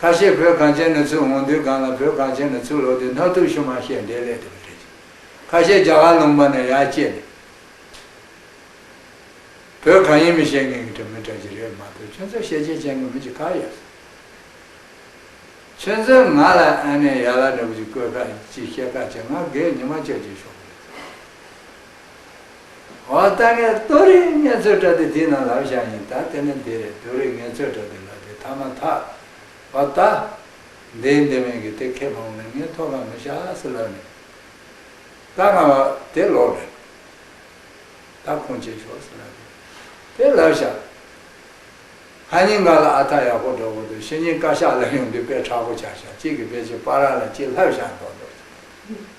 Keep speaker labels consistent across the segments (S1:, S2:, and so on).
S1: ཁ་ཤས་བོད་གངས་ཅན་ན་ཚུར་འོང་དུས་སྒང་ལ་བོད་གངས་ཅན་ན་ཚུར་ལོག་དུས་ནག་ཐུག་ཤུ་མ་བཤད་འདས་ལས་དེ་མི་འགྲིག་ཅིང། ཁ་ཤས་རྒྱ་གར་ལུང་པ་ན་ཡར་སྐྱེས་ནས། བོད་གང་ཡིན་མི་བཤད་མཁན་གྱི་དྲ་མི་དྲ་རྒྱུ་རེད་མ་གཏོགས་ཁྱོད་ཚོ་ཤེས་ཆེན་ཅན་གྱི་མི་གཅིག་ག་ཡོད། ཁྱོད་ཚོས་ང་ལ་ཨ་ནེ་ཡ་ལ་འདྲ་བུ་ཅིག་བཀོད་ཁ་ཅིག་བཤད་ཁ་ཅིག་ང་རྒས་ཉི་མ་ཅག་ཅིག་ཤོག་གི་རེད། འོ་ད་ངས་ལྟོ་རི་ངལ་རྩོལ་དྲ་སྡེ་དེའི་ནང་ལབ་བཞག་ཡིན་ད་དེ་ནི་འདི་རེད་ལྟོ་རི་ངལ་རྩོལ་དྲ་སྡེ་ལབ་དེ་ཐ་མ་ཐག་འོ་ད། འདི་འདི་མིན་གི་དེ་ཁས་བླངས་ན་ངས་མཐོ་སྒང་མི་ཤ་སེ་ལབ་ནས་ད་ང་བ་དེ་ལོག་རེད་ད་ཁུངས་སྐྱེལ་ཤོག་སེ་ལབ་དེ་དེ་ལབ་བཞག་ཧ་སྙིང་ག་ལ་ཨ་ཐ་ཡག་པོ་འགྲོ་གི་འདུག་ཤེས་སྙིང་བཀའ་ཤག་ལ་ཡོང་དུས་དཔེ་ཁྲག་པོ་ཆགས་བཞག་གཅིག་གི་དཔེ་ཆེ་པ་ར་ལ་གཅིག་ལྷབ་བཞག་འགྲོ་འདུག་ཅེས།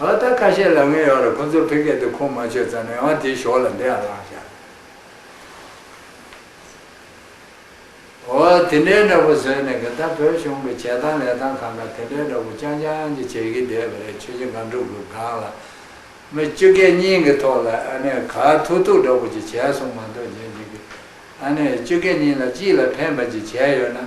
S1: ཨ་ལ་ད་ཁ་ཤས་ལ་ངའི་ཡོག་རེད་ཁོ་ཚོར་ཕེ་སྐད་དེ་ཁུངས་མ་ཆོད་ཙང་ནས་ཡང་དེའི་ཞོག་ལ་འདི་ཡང་བསླངས་བཞག། འོ་དེ་འདྲའི་འདྲ་པོ་བཟོས་ནས་གིན་ད་བོད་གཞུང་གི་བྱས་སྟངས་ལས་སྟངས་གང་ག་དེ་འདྲའི་འདྲ་པོ་རྐྱང་རྐྱང་གྱི་བྱས་གིན་བསྡད་པ་རེད་ཆོས་རྗེ་སྒང་དྲུག་གི་སྒང་ལ་མི་བཅུ་སྐད་གཉིས་གི་ཐོག་ལ་ཨ་ནེ་ག་ཐུག་ཐུག་འདྲ་པོ་ཅིག་བྱས་སོང་མ་འདོད་རྗེན་གཅིག་གི་ཨ་ནེ་བཅུ་སྐད་གཉིས་ལ་གཅིག་ལ་ཕན་པ་ཅིག་བྱས་ཡོད་ན།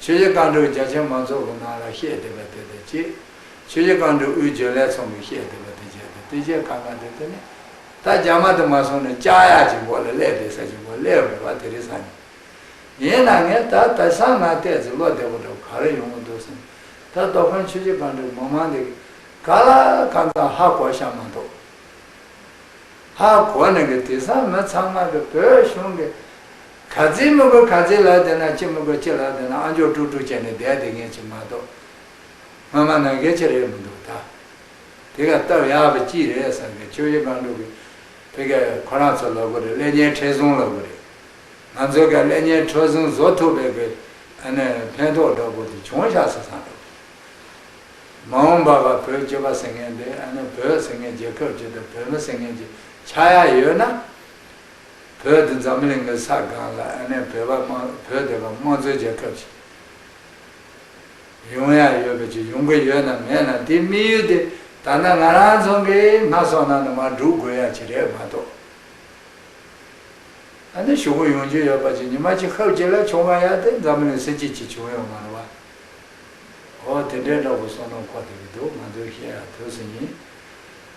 S1: ཆོས་རྗེ་བཀའ་འགྲོའི་རྒྱ་ཆེན་མ་ཚོགས་ཀྱི་ནང་ལ་བཤད་བསྡད་པ་དེ་དང་བཅས། ཆོས་རྗེ་བཀའ་འགྲོའི་དབུའི་འཇོན་ལས་ཚོགས་མི་བཤད་བསྡད་པ་དེ་བཅས་དང་བསྟུན་བྱས་ཁ་ནང་དེ་དེ་ནས། ད་རྒྱ་མ་དུ་མ་སོང་ནས་ལྕགས་ཡག་ཅིག་མགོ་ལ་གླས་བསྡད་ས་ཅིག་མགོ་གླས་རུང་བ་དེ་རེད་བསམ་ནས། ཡིན་ན་ངས་ད་ལྟ་སང་ང་ལྟས་ཚེ་ལོ་བདེ་བོ་འདྲ་བོ་ག་རེ་ཡོང་གི་འདུག་སེམས། ད་རྡོ་ཁང་ཆོས་རྗེ་བཀའ་འགྲོའི་མི་མང་འདི་གི་ག་ལ་ཁ་མཚང་ཧ་གོ་ཤ་མ་འདུག། ཧ་གོ་ནས་གི་དེ་སང་མི་ཚང་མ་གི་བོད་གཞུང་གི་ག་ཚིལ་མི་དགོས་ག་ཚིལ་ལགས་དེ་ན་ཅི་མི་དགོས་ཅི་ལགས་དེ་ན་ཨ་མཆོག་དཀྲུག་དཀྲུག་བྱས་ནས་བསྡད་དེ་ངས་ཅི་མ་གཏོགས་སྔ་མ་ན་གལ་ཆེ་རེད་མི་འདུག་ད་དེ་ག་སྟབས་ཡག་པོ་ཅི་རེད་བསམ་གས་ཆོས་རྗེ་སྒང་དྲུག་གི་དེ་ག་ཁོ་རང་ཚོ་ལོག་གོ་རེད་ཀླད་ཉལ་འཕྲལ་བཟུང་ལོག་གོ་རེད་ང་ཚོ་ག་ཀླད་ཉལ་འཕྲོ་བཟུང་བཟོ་ཐུབ་པའི་གི་ཨ་ནི་ཕན་ཐོག་འདྲ་པོ་དེ་བྱུང་ཤག་སོ་སང་འགྲོ་གི་མ་འོང་པ་ག་བོད་སྤྱི་པ་ཟེར་མཁན་དེ་ཨ་ནི་བོད་ཟེར་མཁན་རྒྱལ་ཁབ་ཅིག་དང་བོད་མི་ཟེར་མཁན་གྱི་ཆགས་ཡ་ཡོད་ན། བོད་དུ་འཛམ་གླིང་གི་ས་སྒང་ལ་ཨ་ནེ་བོད་པ་བོད་དེ་བ་དམངས་གཙོའི་རྒྱལ་ཁབ་ཅིག་ཡོང་ཡ་ཡོད་པ་ཅིག་ཡོང་གི་ཡོད་ནམ་མེད་ནམ་དེའི་དམིགས་ཡུལ་དེ་ད་ནངས་ང་རང་ཚང་གི་སྔ་སོང་ནང་ན་མ་སྒྲུག་དགོས་ཡ་ཅིག་རེད་མ་གཏོགས། ཨ་ནེ་ཞུ་གུ་ཡོང་རྒྱུ་ཡོད་པ་ཅིག་ཉི་མ་ཅིག་ཧབ་ཅིག་ལ་བྱུང་བ་ཡ་དེ་འཛམ་གླིང་སྲིད་སྤྱི་ཅིག་བྱུང་ཡོད་མ་རེད་བ། ཨོ་དེ་འདྲའི་འདྲ་པོ་སོང་ནོ་ཁོ་ཐེ་གི་འདུག་ང་ཚོའི་ཤེས་ཡ་ཐོས་སུ་ཡིན།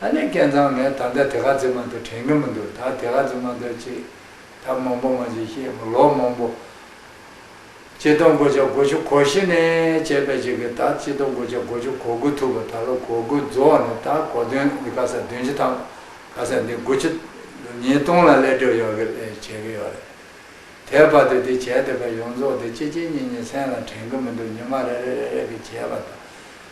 S1: ཨ་ནེ་སྐལ་བཟང་ངས་ད་ལྟ་དེ་ག་ཚོད་མ་འདོད་དྲན་གི་མི་འདུག་ད་དེ་ག་ཚོད་མ་འདོད་ཅེས་ད་མང་པོ་མ་བྱེད་ཤེས་མི་ལོ་མང་པོ། སྤྱི་དོན་གོ་ཆ་གོ་བཅུ་གོ་བཞི་ནས་བྱས་པའི་ཅིག་གིས་ད་སྤྱི་དོན་གོ་ཆ་གོ་བཅུ་གོ་དགུ་ཐུབ་པ་ད་ལོ་གོ་དགུ་རྫོགས་ནས་ད་གོ་དོན་འདི་ག་ས་བདུན་བཅུ་དང་ག་ས་འདི་དགུ་བཅུ། ཉིས་སྟོང་ལ་ལས་སྒྲུབ་ཡོང་གི་ལས་བྱེད་ཀྱི་ཡོད་རེད། དེའི་བར་དུ་འདི་བྱས་འདི་ག་ཡོངས་རྫོགས་དེ་གཅིག་གཅིག་གཉིས་གཉིས་མཚན་ལ་དྲན་གི་མི་འདུག་ཉི་མ་རེ་རེ་རེ་རེ་གི་བྱས་པ་དང།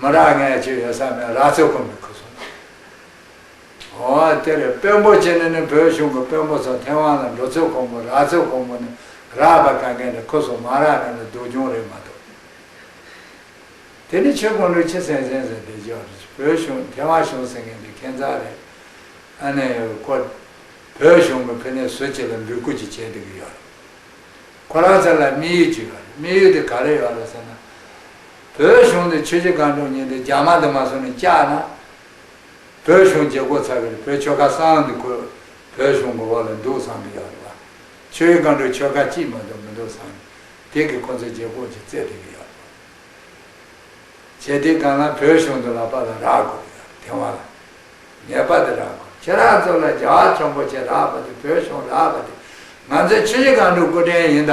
S1: མོ་རང་ངས་བྱེད་ཡོད་ས་མེད་ར་ཚོད་ཁོ་མི་ཁུ་སོང། ཨོ་དེར་དཔོན་པོ་ཅན་ནི་བོད་གཞུང་གི་དཔོན་པོ་ཚོ་ཐེ་ཝང་ལ་འགྲོ་ཚོད་ཁོ་མོ་ར་ཚོད་ཁོ་མོ་ནི་ར་བ་ག་གན་ནི་ཁུ་སོང་མ་ར་གན་ནི་སྡུག་གྱོང་རེད་མ་གཏོགས། དེ་ནི་ཆོས་ཁོང་ཁྲོ་ཆེ་སེང་སེང་ཟེར་བསྡད་ཅོག་རེད་བོད་གཞུང་ཐེ་ཝང་གཞུང་ཟེར་མཁན་དེ་ཁེན་ཙག་རེད། ཨ་ནེ་ཁོ་བོད་གཞུང་གི་ཕི་ནས་ཟུར་ཅིག་ལ་འབུད་རྐུ་ཅིག་བྱེད་སྡོད་ཀྱི་ཡོད་རེད། ཁོ་རང་ཚོ་ལ་དམིགས་ཡུལ་ཅིག་ཡོད་རེད་དམིགས་ཡུལ་དེ་ག་རེ་ཡོད་རེད་ཟེར་ན། བོད་གཞུང་འདི་ཆོས་རྗེ་སྒང་དྲུང་ཉིད་འདི་རྒྱ་དམར་འདི་མ་བཟོ་ནས་བསྐྱལ་ན། བོད་གཞུང་བརྗེ་བསྒོ་ཚར་བའི་བོད་ཆོལ་ཁ་གསང་འདི་ཁོས་བོད་གཞུང་མགོ་བོ་ལ་འདུག་བསམ་གི་ཡོད་རེད་བ། ཆོས་རྗེ་སྒང་དྲུང་ཆོལ་ཁ་གཅིག་མ་འདུག་མི་འདུག་བསམ་ནས་དེ་གིས་ཁོ་ཚོ་བརྗེ་བསྒོ་གྱི་རྩེད་དེ་གི་ཡོད་རེད་བ། བྱས་དེ་གང་ལ་བོད་གཞུང་འདི་ལག་པ་ལ་རག་དགོས་གི་ཡོད་དེ་བ་ལ། ངེས་པ་དེ་རག་དགོས་ཁྱེད་རང་ཚོ་ལ་རྒྱ་བ་ཁྱོ་འབོ་ཆེ་རག་པ་དེ་བོད་གཞུང་རག་པ་དེ་ང་ཚོའི་ཆོས་རྗེ་སྒང་དྲུང་སྐུ་རྟེན་ཡིན་ད།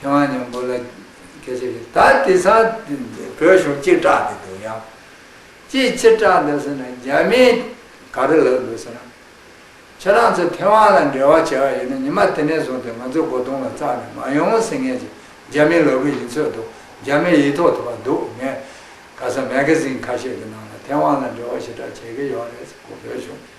S1: ཁྱེད་རང་གཉོམ་པོ་ལ་གལ་ཆེ་གི་ད་དེ་ས་དེ་འདི་བོད་གཞུང་གཅིག་བསྒྲགས་འདི་འདུག་ཡང་ཅིའི་ཕྱིར་བསྒྲགས་འདུག་ཟེར་ན་རྒྱ་མིས་ག་རེ་ལབ་འདུག་ཟེར་ན། ཁྱེད་རང་ཚོ་ཐེ་ཝང་ལ་འབྲེལ་བ་བྱེད་པ་ཡིན་ན་ཉི་མ་དེ་ནས་བཟུང་སྟེ་ང་ཚོ་སྒོ་རྡུང་ལ་བཙགས་ནས་མ་ཡོང་ཟེར་ངེས་ཀྱི་རྒྱ་མིས་ལབ་གི་ཡིན་ཚོད་འདུག་རྒྱ་མིར་ཡིད་ཐོག་ཐུབ་པ་འདུག་ངས་ག་ས་མེ་གྷ་ཟིན་ཁ་ཤས་ཀྱི་ནང་ལ་ཐེ་ཝང་ལ་འབྲེལ་བ་ཞེ་དྲག་བྱེད་ཀྱི་ཡོད་རེད་ཟེར་གོ་བོད་གཞུང་གིས།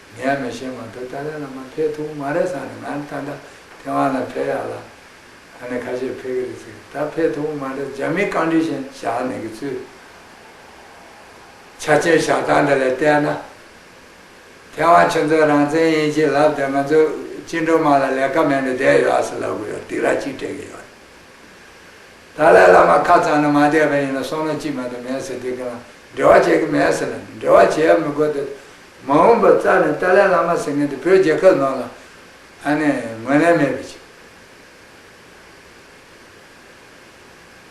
S1: ངས་མ་བཤད་མ་ཐག་ཏཱ་ལའི་བླ་མ་ཕེབས་ཐུབ་མ་རེད་བསམ་ནས་ང་ད་ལྟ་ཐེ་ཝན་ལ་ཕེབས་ཡག་ལ། ད་ནི་ཁ་ཤས་ཕེབས་ཀྱི་རེད་ཟེར་གི་ད་ཕེབས་ཐུབ་མ་རེད་རྒྱ་མིའི་རྐང་འདྲིས་བཞིན་བཞག་ནས་ཀྱི་ཚུལ། ཆ་རྐྱེན་བཞག་སྟངས་འདི་ལས་བལྟས་ན། ཐེ་ཝན་ཁྱོད་ཚོའི་རང་བཙན་ཡིན་གྱི་ལབ་སྟེ་ང་ཚོའི་བཅིངས་འགྲོལ་དམག་ལ་ལས་ཀ་མེད་ནས་བསྡད་ཡོད་ཨ་ཟེར་ལབ་གི་ཡོད་སྡིག་ར་གཅིག་སྤྲད་གི་ཡོད་རེད། ཏཱ་ལའི་བླ་མ་ཁ་གཙང་ནས་མ་བསྡད་པ་ཡིན་ན་སོང་ན་ཅི་མེད་དུ་མེད་ཟེར་དེ་གི་ལ་འབྲེལ་བ་བྱེད་གི་མེད་ཟེར་ན་འབྲེལ་བ་བྱེད་ཡ་མི་དགོས་ཏེ། མ་འོངས་པར་རྩ་ནས་ཏཱ་ལའི་བླ་མ་ཟེར་མཁན་དེ་བོད་རྒྱལ་ཁབ་ནང་ལ་ཨ་ནེ་ངོས་ལེན་མེད་པའི་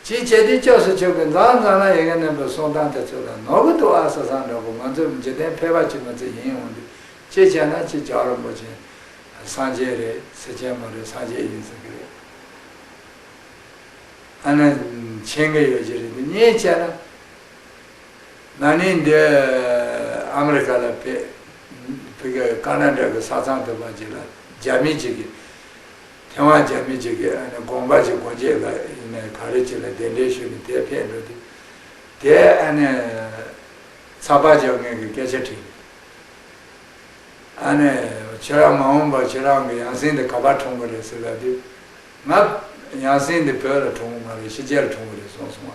S1: ཆེད། ཅིའི་བྱེད་དུས་སྐྱབས་སུ་ཆོག་གི་མཛངས་མཛངས་ལ་ཡི་གེ་མནན་པའི་གསུང་སྟངས་དེ་ཚོ་ལ་ནོར་བུ་དུ་ཨ་ས་ཟངས་འདྲ་པོ་ང་ཚོ་འཇིག་རྟེན་ཕལ་པ་ཅིག་མ་ཚད་ཡིན་འོང་དུས་ཅི་བྱས་ན་ཅི་ཇག་རོང་པོ་ཅན། སངས་རྒྱས་རེད་ཟེར་མཁན་མ་རེད་སངས་རྒྱས་ཡིན་ཟེར་གི་རེད། ཨ་ནེ། མཆན་གྱི་ཡོ་བྱད་རེད་འདི་གཉིས་བྱས་ན། ན་ནིང་འདི་ཨ་མི་རི་ཀ་ལ་ཕེབས། ཀ་ན་ཀྲ་གི་ས་ཚང་དུ་མ་ཅིག་ལ་རྒྱ་མི་ཅིག་གིས། ཐེ་ཝན་རྒྱ་མི་ཅིག་གིས་དགོངས་པ་ཞིག་གོ་འབྱེད་ལ་ག་རེ་ཅིག་ལ་གདན་འདྲེན་ཞུས་ནས་དེ་ཕེབས་འགྲོ་དུས། དེས་ཚགས་པར་བྱ་མཁན་གྱི་སྐད་ཆ་དྲིས། ཁྱེད་རང་མ་འོངས་པར་ཁྱེད་རང་གི་ཡང་སྲིང་དེ་ག་པར་འཁྲུངས་གི་རེད་ཟེར་ལབ་དུས། ང། ཡང་སྲིང་འདི་བོད་ལ་འཁྲུངས་གི་མ་རེད་ཕྱི་རྒྱལ་ལ་འཁྲུངས་གི་རེད་གསུངས་སོང་བ།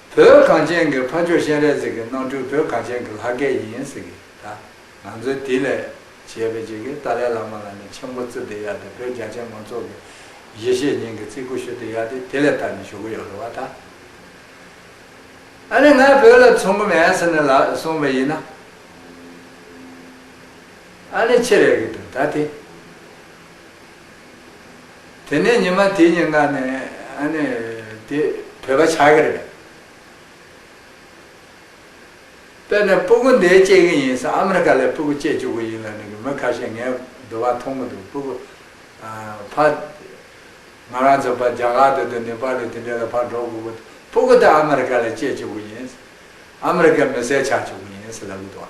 S1: བོད་གངས་ཅན་གྱི་ཕ་ཆོས་གཤེན་རལ་གཟིགས་ཀྱི་གནང་སྤྲུལ་བོད་གངས་ཅན་གྱི་ལྷ་སྐལ་ཡིན་ཟེར་གི་ད་ང་ཚོའི་དེ་ལས་བྱས་པའི་བྱེས་ཀྱི་ཏཱ་ལའི་བླ་མ་ལ་ནི་མཆན་བུ་བཙུགས་ཏེ་ཡ་དེ་བོད་རྒྱ་ཆེན་མང་ཚོགས་ཀྱི་ཡེ་ཤེས་སྙིང་གི་ཙི་གུ་ཞུ་དེ་ཡ་དེ་དེ་ལས་ལྟར་ནི་ཞུ་གི་ཡོད་རེད་བ་ད། ཨ་ནི་ང་བོད་ལ་ཚོང་གི་མེད་ཟེར་ནས་ལགས་གསུངས་པ་ཡིན་ན། ཨ་ནི་ཕྱི་རེད་གི་འདུག་ད་དེ། དེ་ནས་ཉི་མ་དེ་ཉིན་གནའ་ནས་ཨ་ནི་དེ་བོད་པ་ཆགས་ཀྱི་རེད། དཔེར་ན་སྤུ་གུ་འདི་སྐྱེས་ཀྱི་ཡིན་ས་ཨ་མི་རི་ཀ་ལས་སྤུ་གུ་སྐྱེས་བཅུག་གི་ཡིན་ལ་ནི་གི་མི་ཁ་ཤས་ངའི་བསྡུ་བ་མཐོང་གི་འདུག་སྤུ་གུ་ཕ། ང་རང་ཚོ་པ་རྒྱ་གར་དུ་དུ་ནི་པ་ལུ་དེ་འདྲས་ལ་ཕ་འགྲོ་དགོས་གི་འདུག་སྤུ་གུ་འདི་ཨ་མི་རི་ཀ་ལས་སྐྱེས་བཅུག་གི་ཡིན་ས་ཨ་མི་རི་ཀའི་མི་སེར་ཆགས་བཅུག་གི་ཡིན་ས་ལབ་གི་འདུག་ཨ